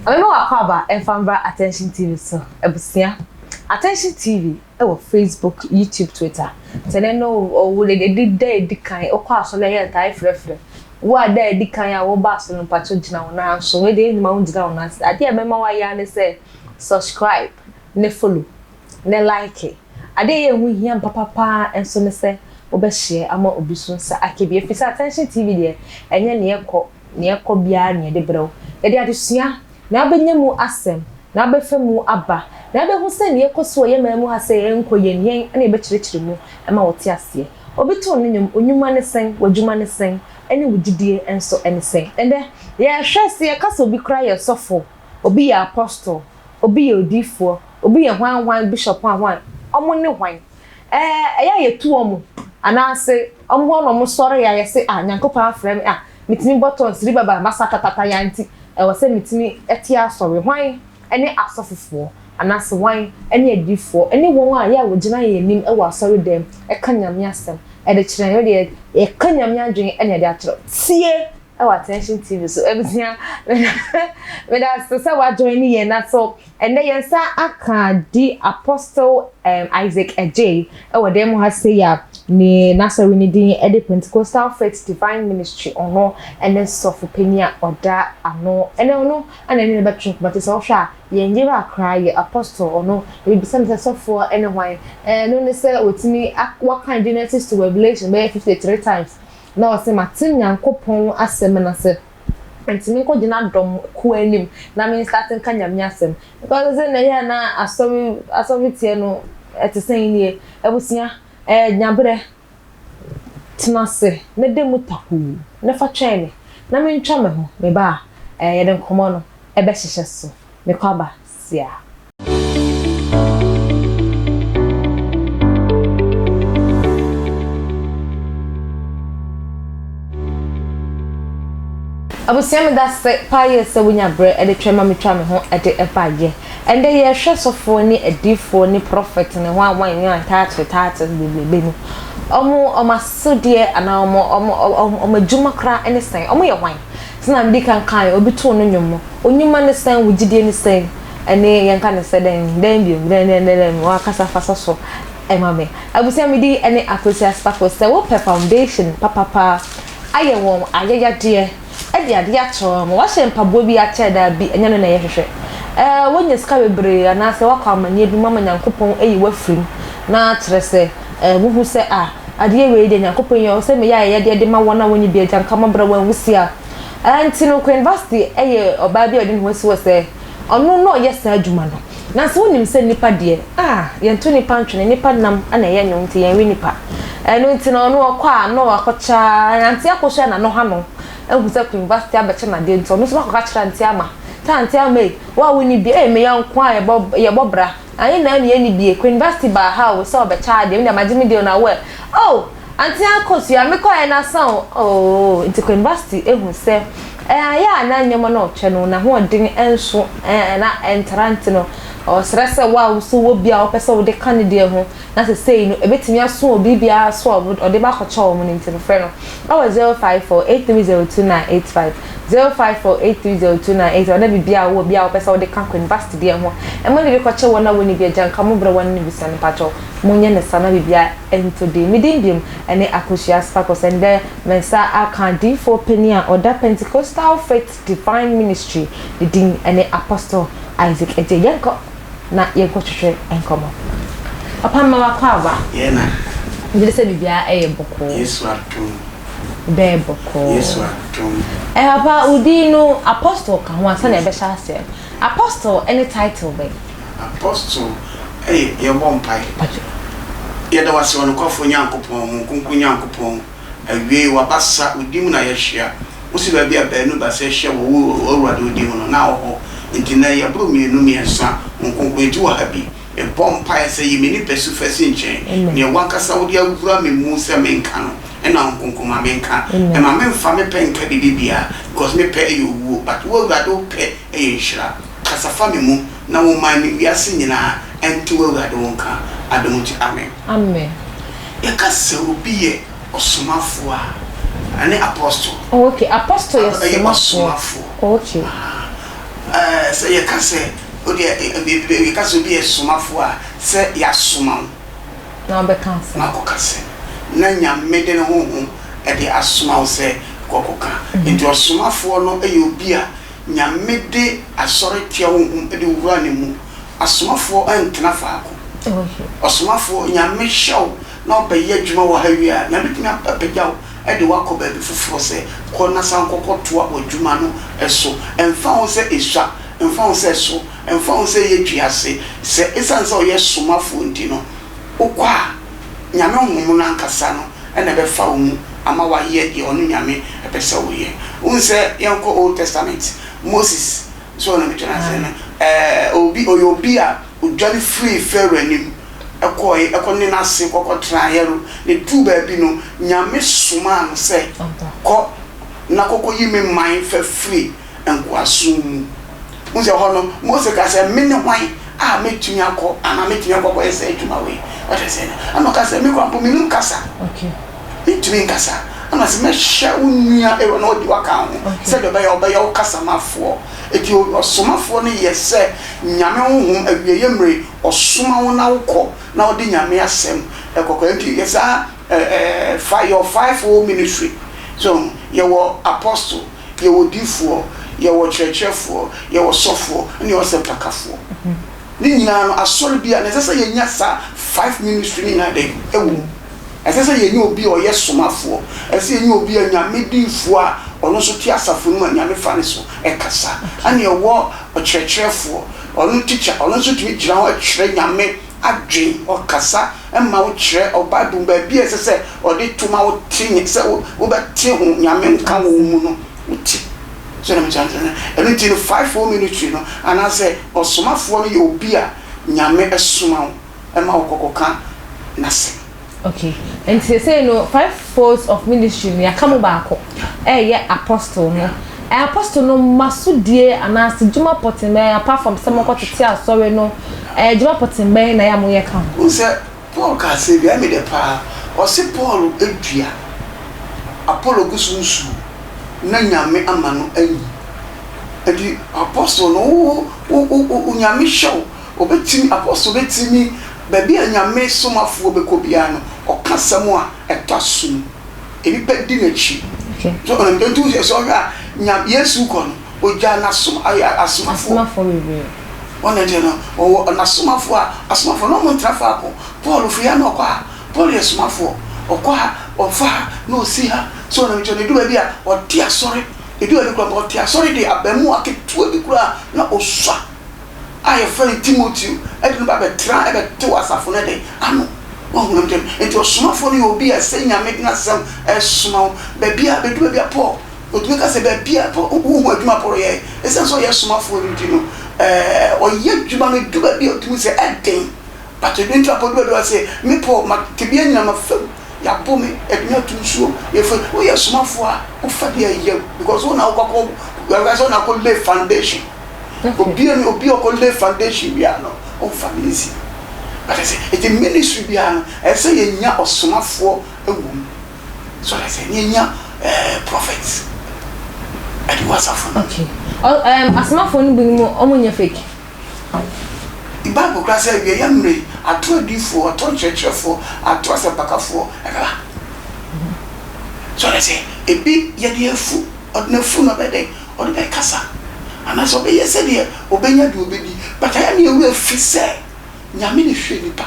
Ɔbɛma w'akwaaba mfa mbra Attention TV so. Abusua, Attention TV wɔ Facebook, YouTube, Twitter. Sɛ nɛ no o wo dɛ de da edi kan okɔ asɔr a yɛtaa frɛfrɛ wo a da edi kan a woba asɔr no mpakyɛw gyina wo nan so. Wei de enyim a wonngyina wo nan so. Ade a ebɛma wayɛ ara nye sɛ subscribe na follow ne like. Ade a ɛyɛ ɛho hia ampa papa ara nso ne sɛ wobɛ share ama obi so nsa aka bi efisɛ Attention TV deɛ ɛnyɛ nea ɛkɔ nea ɛkɔ biara na yɛde brɛ wo. Yɛde adesua, nea wobɛnya mu asɛm, nea wobɛfa mu aba, nea wobɛhu sɛ nea ɛkɔ so wɔ yɛn man mu ha sɛ ɛnkɔ yie no yɛn na yɛbɛkyerɛkyerɛ mu ma wo te aseɛ. Obi too no nnwom, wo nnwuma ne sɛn, w'adwuma ne sɛn, ɛne wo gyidie nso ne sɛn? Ɛnnɛ yɛhwɛ sɛ yɛka sɛ obi koraa yɛ sɔfo, obi yɛ Apostle, Obi yɛ odiyifoɔ, obi yɛ hwan hwan bishop a hwan, wɔn ne hwan? Ɛɛ ɛyɛ a yɛtu wɔn anaase wɔn hɔ na wɔsɔre yɛ a yɛse ah Nyankopɔn afrɛ me ah metumi bɔ tɔn siri baba masa katataya nti ɛwɔ sɛ metumi te asɔre hwan ne asɔfofoɔ anaase hwan ne adiyifoɔ ne wɔn a yɛ a wɔgyina yɛn anim wɔ asɔre dɛm ka Nyame asɛm ɛde kyerɛ yɛn wei deɛ yɛka Nyame adwene na yɛde akyerɛ wo tie Ɛwɔ Attention TV so. Abusua, meda ase sɛ wa join yɛn na so ɛnɛ yɛn nsa aka di Apostle um, Isaac Adjei ɛwɔ dan mu ha sɛ ya ne n'asɔre ne din ɛde Pentecostal Faith Divine Ministry ɔno ɛne sɔfo panyin a ɔda ano ɛnɛ ɔno ɛna ɛne ne bɛtwe nkɔmɔ te sɛ ɔhwɛ a yɛn yera koraa yɛ Apostle ɔno ebisa ne sɛ sɔfoɔ ɛne hwan ɛno ne sɛ wɔtumi wakan Genesis to Revelation bɛyɛ 53 times Na ɔse, Mate Nyankopɔn asɛm no ase, nti menkɔ gyina dɔm kuo anim na me start nka Nyame asɛm. Because sɛ na ɛyɛ a na asɔre asɔre teɛ no ɛte sɛn nie. Abusua, ɛyɛ nya berɛ. Tena ase na da mu takuu na fa twɛn me na mentwa me ho, meba a, ɛɛ yɛde nkɔmmɔ no ɛbɛhyehyɛ so. Mekɔ aba. sia. Abusua me dase paa yie sɛ wonya berɛ de twɛn ma metwa me ho de baeɛ. Ɛndɛ yɛrehwɛ sɔfoɔ ne adiifoɔ ne prɔfɛt ne hwan hwan nwan taato taato bebrebe no. Ɔmo ɔmo asodeɛ anaa ɔmo ɔmo ɔmo adwuma koraa ne sɛn? Ɔmo yɛ hwan? Sɛnea mede kan kae no, obi too no nnwom no, onyuma ne sɛn, wo gyidie ne sɛn? Ɛnne yɛnka no sɛ dɛn? Dɛn bio? Dɛn, dɛn, dɛn, dɛn? W'ankasa fa sɔ so ma me. Abusua, me din ne Akwasi Asafo. Sɛ wopɛ foundation papa paa, ayɛ wɔn ayɛyɛdeɛ, de adeɛ akyerɛ wɔn, wɔahyɛ mpaboa bi akyɛ, daabi, ɛnyɛ no na yɛhwehwɛ. Ɛɛ, woanya sika bebree anaasɛ woakɔ amanneɛ bi mu ama Nyankopɔn ayi wo afiri mu, na kyerɛ sɛ, Eh, wuhu sɛ, ah, adeɛ wei deɛ Nyankopɔn yɛ, ɔsɛ meyɛ ayɛyɛdeɛ de ma wɔn a wɔnni bi agya nka wɔn brɛ wɔn nwisiaa. Ɛɛ, nti no, Queen Vasti yɛ ɔbaa bi a ɔde ne ho asi hɔ sɛ ɔno na ɔyɛ saa adwuma no. Nanso wonim sɛ nnipa deɛ, ah, yɛnto nnipa ntwene, nnipa nam na ɛyɛ nwom nti yɛnwe nnipa. Ɛno nti no, ɔno ɔkɔ a na wakɔkyɛ ara, Auntie akɔhwɛ na no ha no ahu sɛ Queen Vasti abɛkyɛ no adeɛ nti ɔno nso na akɔka kyerɛ Auntie Ama sɛ, Auntie Ama ei, wo a wonni bi, ei, me yɔnko a yɛbɔ, yɛbɔ bra, Anyi na ɛne ɛne bie Queen Vasti baa ha o sɛ ɔbɛkyɛ adeɛ me deɛ magye me deal na wo ɛ oh Auntie Akosua me kɔɛ na sa o ooh Nti Queen Vasti ehu sɛ ɛayɛ a na nneɛma no ɔtwɛ no n'ahoɔden ɛnso ɛɛ na ɛntra nti no ɔsrɛ sɛ wo a wo nso wɔ bi a wopɛ sɛ wode ka ne deɛ ho na sɛ sei no ɛbɛtumi aso wɔ biribiara so a ɔde ba kɔkyɛ wɔn no nti no frɛ no wɔ 0548302985, 0548302985 na biribiara a wowɔ biara a wopɛ sɛ wode ka kɔ university deɛ ho a ma biribi kɔkyɛ wɔn a wɔnni bi agya nka mo berɛ wɔn no bisa no mpakyɛw monyɛ no saa na biribiara ntɔ din. Me din biom ne Akosua Sparkles ɛndɛ me nsa aka adiyifoɔ panin a ɔda Pentecostal Faith Divine Ministry ne din ne Apostle Isaac Adjei. Yɛnkɔ na yɛnkɔ twetwe nkɔmmɔ. Papa mma wakɔ aba. Yɛn na. Megye di sɛ biribiara ɛyɛ bɔkɔɔ. Yesu adom. Bɛyɛ bɔkɔɔ. Yesu adom. Ɛɛ papa wo din no Apostle ka ho a sɛnea ɛbɛhyɛ aseɛ no. Apostle ɛne title bɛn? Apostle ɛyɛ yɛbɔ mpaeɛ. Yɛda wo ase ɔnokwafo Nyankopɔn, Honhom Kronkron Nyankopɔn. Awiei, w'abasa, wo din mu na yɛahyia. Wose baabi a baanu baasa ahyia wɔ wo, Awurade, wo din mu no, na wo hɔ. Enti nnɛ, yɛboro mmienu mmiɛnsa, wo nkonkron nti wɔ ha bi. Mebɔ mpaeɛ sɛ yi me nipasu fa si nkyɛn. Nea w'ankasa wode awura me mu sɛ menka no, ɛna wo nkonkron ma menka. Mma memfa me pɛ nka biribi biara, because me pɛ yɛ owuo, but wo Awurade wo pɛ yɛ nhyira. Kasa fa me mu, na wo man ne wiase nyinaa nte w'Awurade wo nka. Adom nti, amen. Amen. Yɛka sɛ obi yɛ ɔsomafoɔ a, ɛne apostol. Oh okay, apostol yɛ somafoɔ. Ɛyɛ ɔsomafoɔ. Oh okay. Aha, ɛɛ sɛ yɛka sɛ odeɛ ɛ yɛka sɛ obi yɛ somafoɔ a, sɛ yasoma wo. Na ɔbɛka asɛm. Na akɔka asɛm. Na Nyame de ne honhom ɛde asoma wo sɛ kɔ kɔka. Nti ɔsomafoɔ no ɛyɛ obi a. Nyame de asɔre tua wo ho de wo wura ne mu, asomafoɔ ntena faako, ɔsomafoɔ Nyame hyɛ wo na ɔbɛ yɛ adwuma wɔ ha wie a, Nyame bɛtumi apagya wo de wo akɔ baabi foforɔ sɛ kɔ na san kɔ kɔ toa wɔ adwuma no so, ɛmfa ho sɛ ɛsua, ɛmfa ho sɛ ɛso, ɛmfa ho sɛ ɛyɛ dua ase, sɛ ɛsiane sɛ ɔyɛ somafoɔ nti no, Wokɔ a, Nyame honhom no ankasa no na ɛbɛfa wo mu ama w'ayɛ deɛ ɔno Nyame pɛ sɛ woyɛ. Wohu sɛ yɛnkɔ Old Testament, Moses, so ɔno meto no ase no, eh, obi, ɔyɛ obi a ɔdwane firii Pharaoh anim kɔɔe, ɛkɔ ne n'ase kɔ kɔ traeɛ no, na ɛduruu baabi no, Nyame somaa no sɛ, Kɔ na kɔ kɔ yi me man fa firi. nkoasom mu. Wohu sɛ ɛhɔ no, Mose ka sɛ, Mene hwan a mɛtumi akɔ anaa mɛtumi akɔ akɔyɛ saa adwuma wei? Wate aseɛ? Ɛnna ɔka sɛ, Me koraa mpo, mennim kasa. Mentumi nkasa. Ɛnna ɔse, Mɛhyɛ wo nua Aaron na wadi w'aka ho sɛdeɛ ɔbɛyɛ a ɔbɛyɛ wo kasamafoɔ. Enti ɔsomafoɔ no yɛ sɛ Nyame honhom awieeɛ mmerɛ, ɔsoma wo na wokɔ na wode Nyame asɛm kɔkɔ. Enti yɛ saa, ɛɛ, fa your five-fold ministry. So, yɛwɔ Apostle. Yɛwɔ odiyifoɔ, yɛwɔ ɔkyerɛkyerɛfoɔ, yɛwɔ ɔsɔfoɔ, ɛna yɛwɔ asɛmpakafoɔ. Ne nyinaa no, asɔre biara no, ɛsɛ sɛ yɛnya saa five ministry no nyinaa dɛn? Ɛwɔ mu. Ɛsɛ sɛ yɛnya obi a ɔyɛ somafoɔ. Ɛsɛ sɛ yɛnya obi a Nyame diyifoɔ a ɔno nso te asafo no mu a Nyame fa ne so kasa. Ɛna yɛwɔ ɔkyerɛkyerɛfoɔ, ɔno teacher, ɔno nso tumi gyina hɔ kyerɛ Nyame adwene, ɔkasa Ɛmma wo kyerɛ ɔ Bible mu baabi a ɛsɛ sɛ ɔde to ma wote nya sɛ wo wobɛte ho Nyame nka wɔ wo mu no, wote. So na mekyerɛ aseɛ? Ɛno nti no fivefold ministry no anaasɛ ɔsomafoɔ no yɛ obi a Nyame soma wo ma wo kɔ kɔ ka N'asɛm. Okay, nti seesei no five folds of ministry no yɛaka mu baako ɛɛyɛ Apostle no. Ɛ Apostle no mma so die anaa se dwuma pɔtee mɛɛ apart from sɛ monkɔ tete Asɔre no Edwuma pɔtsee bɛn na yɛ a monyɛ kã ho? Wohu sɛ Paul ka asɛm bi a, emi dɛ paa. Ɔse Paul edua, Apollo gu so nsuo, na Nyame ama no anyin. Ɛnti apostle no wo wo wo Nyame hyɛ wo, obetumi, apostle betumi, baabi a Nyame somafoɔ bɛkɔ biara no, ɔka asɛm a ɛtɔ asom, nnipa di n'akyi. So ɔnam, ɛnti wo hwɛ, sɛ ɔhwɛ a, Nya, Yesu rekɔ no, ogyaa n'asom, asomafoɔ. Wɔn akyi no, wɔwɔ asomafo a asomafo no wɔn ntra faako. Paul firi ha na ɔkɔ ha. Paul yɛ somafoɔ. Ɔkɔ ha, ɔfa ha, na ɔsi ha. So wɔn akyi no, ɛdu baabi a, ɔte asɔre. Ɛdu baabi koraa mpo, ɔte asɔre de abaamua ketewa bi koraa na ɔsua a wɔfrɛ no Timoteo de no ba bɛtra bɛtew asafo no de ano. Woahu deɛ mekyerɛ no? Enti ɔsomafoɔ no yɛ obi a ɛsɛ Nyame de n'asɛm resoma wo baabiara. Bɛdu baabi a, Paul. Wɔtumi ka sɛ baabi a wohu adwuma poroyɛ, ɛsiane sɛ ɔyɛ somafoɔ no nti no, ɔyɛ adwuma no ɛdu baabi a ɔtumi sɛ ɛden. But ɛdu nti apɔ du baabi a ɔsɛ me Paul ma tebea nyina ma fam, yɛabɔ me, yɛde me ato nsuo, yɛfiri, woyɛ somafoɔ a wofa deɛ yam because wo na wokɔ kɔ, yɛka sɛ wo na wokɔ lay foundation. Obi a obi a ɔkɔ lay foundation biara no, ɔmfa no easy. But ɛsɛ, ɛti ministry biara no, ɛsɛ yɛnya ɔsomafoɔ wɔ mu. So ayɛ sɛ nea nya ɛɛ prophets ɛde wɔ asafo no. Okay. Ɔ ɛɛm asomafoɔ no binom wɔn nyɛ fake. Bible koraa sɛ awieeɛ mmerɛ yi atorɔ adiifoɔ, atorɔ nkyerɛkyerɛfoɔ, atorɔ asɛmpakafoɔ ɛbɛba. So ayɛ sɛ ebi yɛde afu ɔde n'afu no ɔbɛyɛ dɛn ɔde bɛkasa anaasɛ ɔbɛyɛ sɛdeɛ ɔbɛnya deɛ ɔbɛdi but ayɛ ne yɛn werɛ fi sɛ. Nyame na ehwɛ nipa.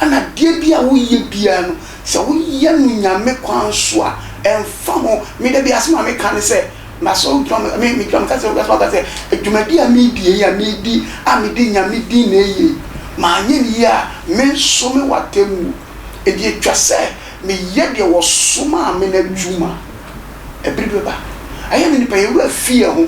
Ɛna adeɛ bi a woyɛ biara no, sɛ woyɛ no Nyame kwan so a, ɛmfa ho. Me da bi asɛm a meka ne sɛ, masɔre gyina hɔ, me gyina hɔ meka sɛ, asɔfo aka sɛ, adwumadi a meredi yei a, meredi a mede Nyame din na ɛyɛ yi, manyɛ no yie a, me nso mewɔ atemmuo. Enti ɛtwa sɛ meyɛ deɛ wɔsomaa me no adwuma. Ɛberɛ bi bɛba. Ɛyɛ ne nipa, yɛn werɛ fi yɛn ho.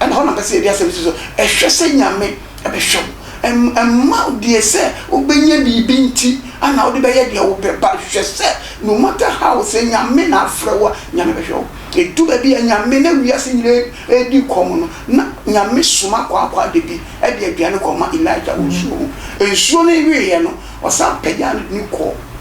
Ɛna hɔ na mpɛ sɛ yɛde asɛm no si so. Hwɛ sɛ Nyame bɛhwɛ wo. Mma deɛ sɛ wobɛnya biribi nti na wode bɛyɛ deɛ wopɛ but hwɛ sɛ no matter how sɛ Nyame na afrɛ wo a, Nyame bɛhwɛ wo. Ɛdu baabi a Nyame, na wiase nyina ɛredi kɔm no, na Nyame soma kwaakwa da bi de aduane kɔma Elijah wɔ nsuo ho. Nsuo no weeɛ no, ɔsan pagyaa no de no kɔɔ.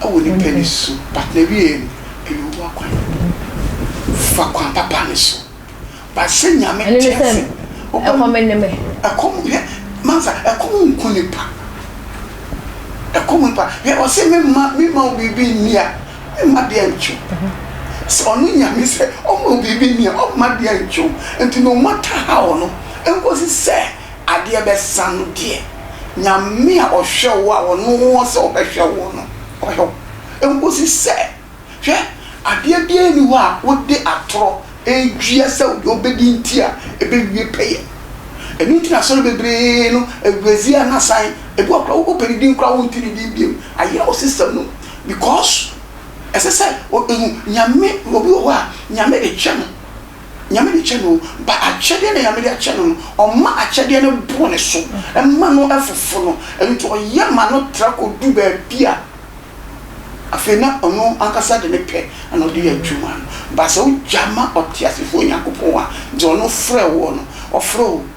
wɔ nnipa ani so but n'awieɛ no ɛyɛ owu akwan fa kwan papa no so but sɛ nyame ɛno ne sɛ tease wobɛm ɛkɔm ne me ɛkɔm hwɛ mansa ɛkɔm nku nipa ɛkɔm nipa hwɛ ɔse memma memma wo biribi nni a memma deɛ ntwe sɛ ɔno nyame sɛ ɔma wo biribi nni a ɔmma deɛ ntwe nti no matter how no ɛnkɔsi sɛ adeɛ bɛsa no deɛ, Nyame a ɔhwɛ wo a ɔno wɔ sɛ ɔbɛhwɛ woɔ no, ɔhwɛ wo. Ɛnkɔsi sɛ, hwɛ, adeɛ biara nni hɔ a wode atorɔ redua sɛ deɛ wobɛdi nti a ɛbɛwie pɛyɛ. Ɛno nti na asɔre bebree no, aguadzi a na asan, ebi wɔ hɔ koraa wopɛ ne din koraa wonte ne din biom, ayera wo system no mu because ɛsɛ sɛ, hu, Nyame, obi wɔ hɔ a Nyame de hwɛ no. Nyame de kyɛ no, but akyɛdeɛ na Nyame de akyɛ no no, ɔma akyɛdeɛ no boro ne so, ɛma no foforo no, ɛno nti ɔyɛ ma no tra kɔdu baabi a afei na ɔno ankasa de ne pɛ na ɔde yɛ adwuma no, but sɛ wogya ma ɔteasefoɔ Nyankopɔn a, deɛ ɔno frɛ woɔ no, ɔfrɛ wo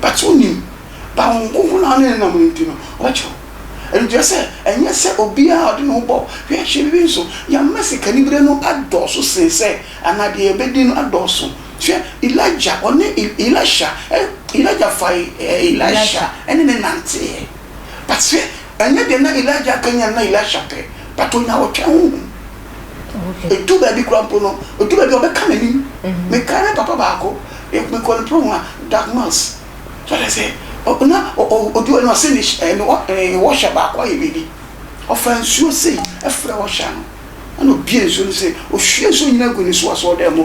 But wonnim, ba Honhom Kronkron no a ɔne no nam no nti no, ɔbɛkyerɛ wo. Ɛno nti ɛsɛ sɛ ɛnyɛ sɛ obiara a ɔde ne ho bɔ hwɛhwɛ biribi nso. Yɛama sikanibere no adɔɔso sen sɛ anaa deɛ yɛbɛdi no adɔɔso. Hwɛ Elijah, ɔne Elisha, Elijah fae Elisha ne no nanteeɛ. But hwɛ, ɛnyɛ deɛ na Elijah ka nyinaa na Elisha pɛ, but ɔnya ɔtwɛn honhom. Ɛduu baabi koraa mpo no, ɛduu baabi a ɔbɛka m'anim. Mekae me papa baako, mekɔɔ ne prohwa, Doug Mills. So ate aseɛ? Ɔ, na ɔ, ɔ, ɔdi hɔ no, ɔse ne sh, ɛ, ne wɔ, ɛ, ne wɔhya baako ayɛ biribi. Ɔfaa nsuo sei frɛɛ wɔhya no, ɛna ɔbuee nsuo no sei, ɔhwiee nsuo nyinaa guu ne so asoɔdan mu.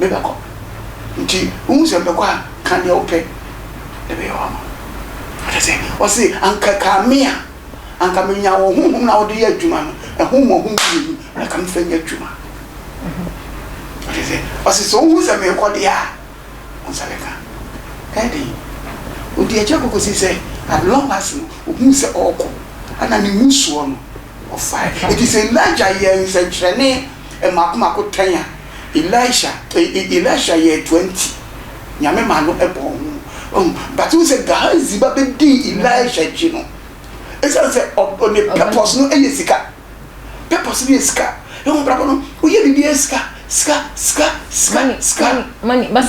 mebɛkɔ. Ntsi wohu sɛ mebɛkɔ a, kã deɛ wopɛ na bɛyɛ wo ama wo. Kyerɛ sɛ, ɔse, anka ɛkaa me a, anka menya wo honhom no a wode yɛ adwuma no, ɛho mmɔho mmienu, na anka mefa nyɛ adwuma. Kyerɛ sɛ, ɔse, sɛ wohu sɛ merekɔ deɛ a, wo nsa bɛka. Ɛyɛ den. Odi akyire kɔkɔsii sɛ, at long last no, ohuu sɛ ɔrekɔ, ɛna ne mu soɔ no, ɔfaeɛ. Enti sɛ Elijah yɛɛ nsɛnkyerɛnne mmaako mmaako tɛn a, Elisha Elisha yɛɛ toa nti Nyame maa no bɔɔ ho oh but wohu sɛ Gehazi ba bɛdii Elisha akyi no ɛsiane sɛ ɔ ne purpose no yɛ sika purpose no yɛ sika ɛwɔ abrabɔ no woyɛ biribiara sika sika sika sika sika.